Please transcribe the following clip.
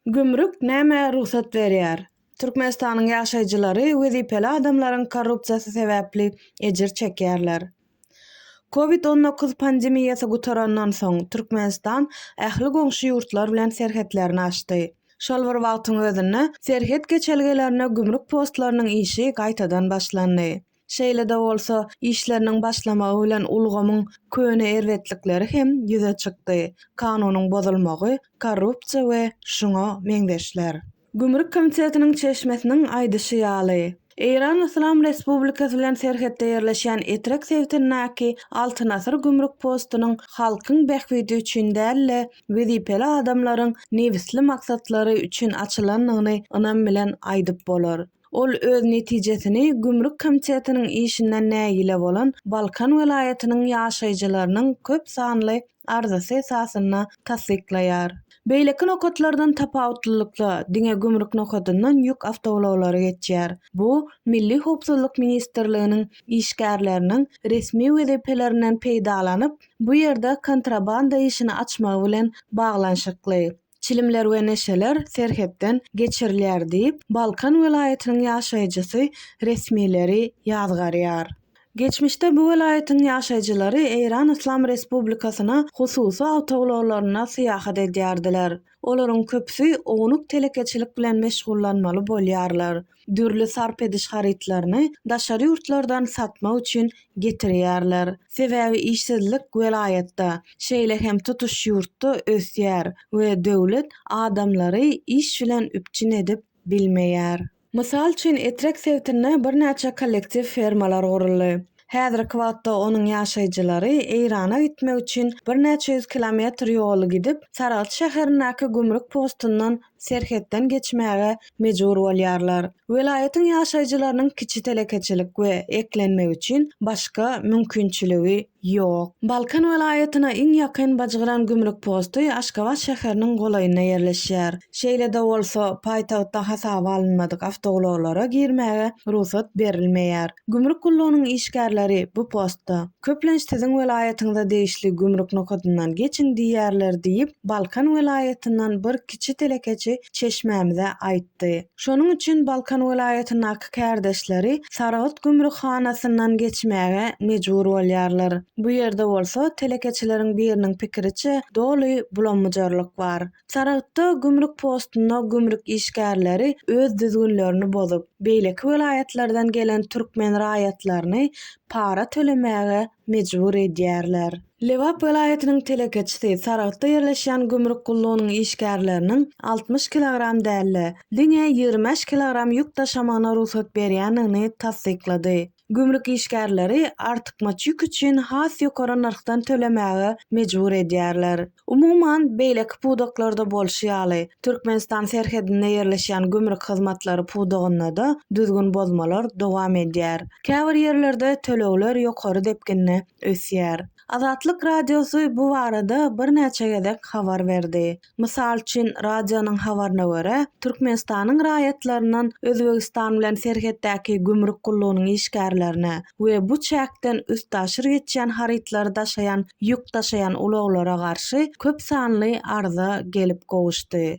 Gümrük nämä rugsat berýär? Türkmenistanyň ýaşaýjylary wezipeli adamlaryň korrupsiýasy sebäpli ejir çekýärler. Covid on dokuz pandemiýasy gutarandan soň, Türkmenistan ähli goňşy ýurtlar bilen serhetlerini açdy. Şol bir wagtyň özünde, serhet geçelgelerine gümrük postlarynyň işi gaýtadan başlandy. Şeýle-de bolsa, işleriniň başlamagy bilen ulgamyň köne erbetlikleri hem ýüze çykdy, kanunyň bozulmagy, korrupsiýa we şuňa meňzeşler. Gümrük komitetiniň çeşmesiniň aýdyşy ýaly, Eýran Yslam Respublikasy bilen serhetde ýerleşýän Etrek sebitindäki Altyn asyr gümrük postunyň halkyň bähbidi üçin däl-de, wezipeli adamlaryň nebisli maksatlary üçin açylandygyny ynam bilen aýdyp bolar. Ol öz netijesini Gümrük komitetiniň işinden nägile bolan Balkan welaýatynyň ýaşaýjylarynyň köp sanly arzasy esasynda tassyklaýar. Beýleki nokatlardan tapawutlylykda, diňe gümrük nokadyndan ýük awtoulaglary geçýär. Bu Milli howpsuzlyk ministrliginiň işgärleriniň resmi wezipelerinden peýdalanyp, bu ýerde kontrabanda işini açmagy bilen baglanyşykly. Çilimler we neşeler serhetden geçirilýär diýip, Balkan welaýatynyň ýaşaýjysy resmileri ýazgarýar. Geçmişde bu welaýatyň ýaşaýjylary Eýran Yslam Respublikasyna hususy awtoulaglarynda syýahat edýärdiler. Olaryň köpüsi ownuk telekeçilik bilen meşgullanmaly bolýarlar. dürli sarp ediş harytlaryny daşary ýurtlardan satmak üçin getirýärler. Sebäbi işsizlik welaýatda, şeýle hem tutuş ýurtda ösýär we döwlet adamlary iş bilen üpjün edip bilmeýär. Mysal üçin, Etrek sebitinde birnäçe kollektiw fermalar guruldy. Häzirki wagtda onuň ýaşaýjylary Eýrana gitmek üçin birnäçe ýüz kilometr ýoly gidip, Saragt şäherindäki gümrük postundan serhetden geçmäge mejbur bolýarlar. Welaýatyň ýaşaýjylarynyň kiçi telekeçilik we eklenmek üçin başga mümkinçiligi ýok. Balkan welaýatyna iň ýakyn Bajgyran gümrük posty Aşgabat şäheriniň golaýynda ýerleşýär. Şeýle-de bolsa, paýtagtda hasaba alynmadyk awtoulaglara girmäge rugsat berilmeýär. Gümrük gullugynyň işgärleri bu postda, köplenç siziň welaýatyňyza degişli gümrük nokadyndan geçiň diýýärler diýip, Balkan welaýatyndan bir kiçi telekeçi çeşmämize aýtdy. Şonuň üçin Balkan welaýatyndaky kärdeşleri Saragt gümrükhanasyndan geçmäge mejbur bolýarlar. Bu ýerde bolsa, telekeçileriň biriniň pikiriçe, doly bulam-bujarlyk bar. Saragtda gümrük postunda gümrük işgärleri öz düzgünlerini bozup, beýleki welaýatlardan gelen türkmen raýatlaryny para tölemäge mejbur edýärler. Lebap welaýatynyň telekeçisi Saragtda ýerleşýän gümrük gullugynyň işgärleriniň altmyş kilogram däl-de, diňe ýigrimi bäş kilogram ýük daşamagyna rugsat berýändigini tassyklady. gümrük işgärleri artykmaç ýük üçin has ýokary nyrhdan tölemäge mejbur edýärler. Umuman, beýleki pudaklarda bolşy ýaly, Türkmenistan serhedinde ýerleşýän gümrük hyzmatlary pudagynda-da düzgün bozmalar dowam edýär. Käbir ýerlerde tölegler ýokary depginde ösýär. Azatlyk Radiosy bu barada birnäçe gezek habar berdi. Mysal üçin, radionyň habaryna görä, Türkmenistanyň raýatlaryndan Özbegistan bilen serhetdäki gümrük gullugynyň işgärlerine we bu çäkden üstaşyr geçýän harytlary daşaýan ýük daşaýan ulaglara garşy köp sanly arza gelip gowuşdy.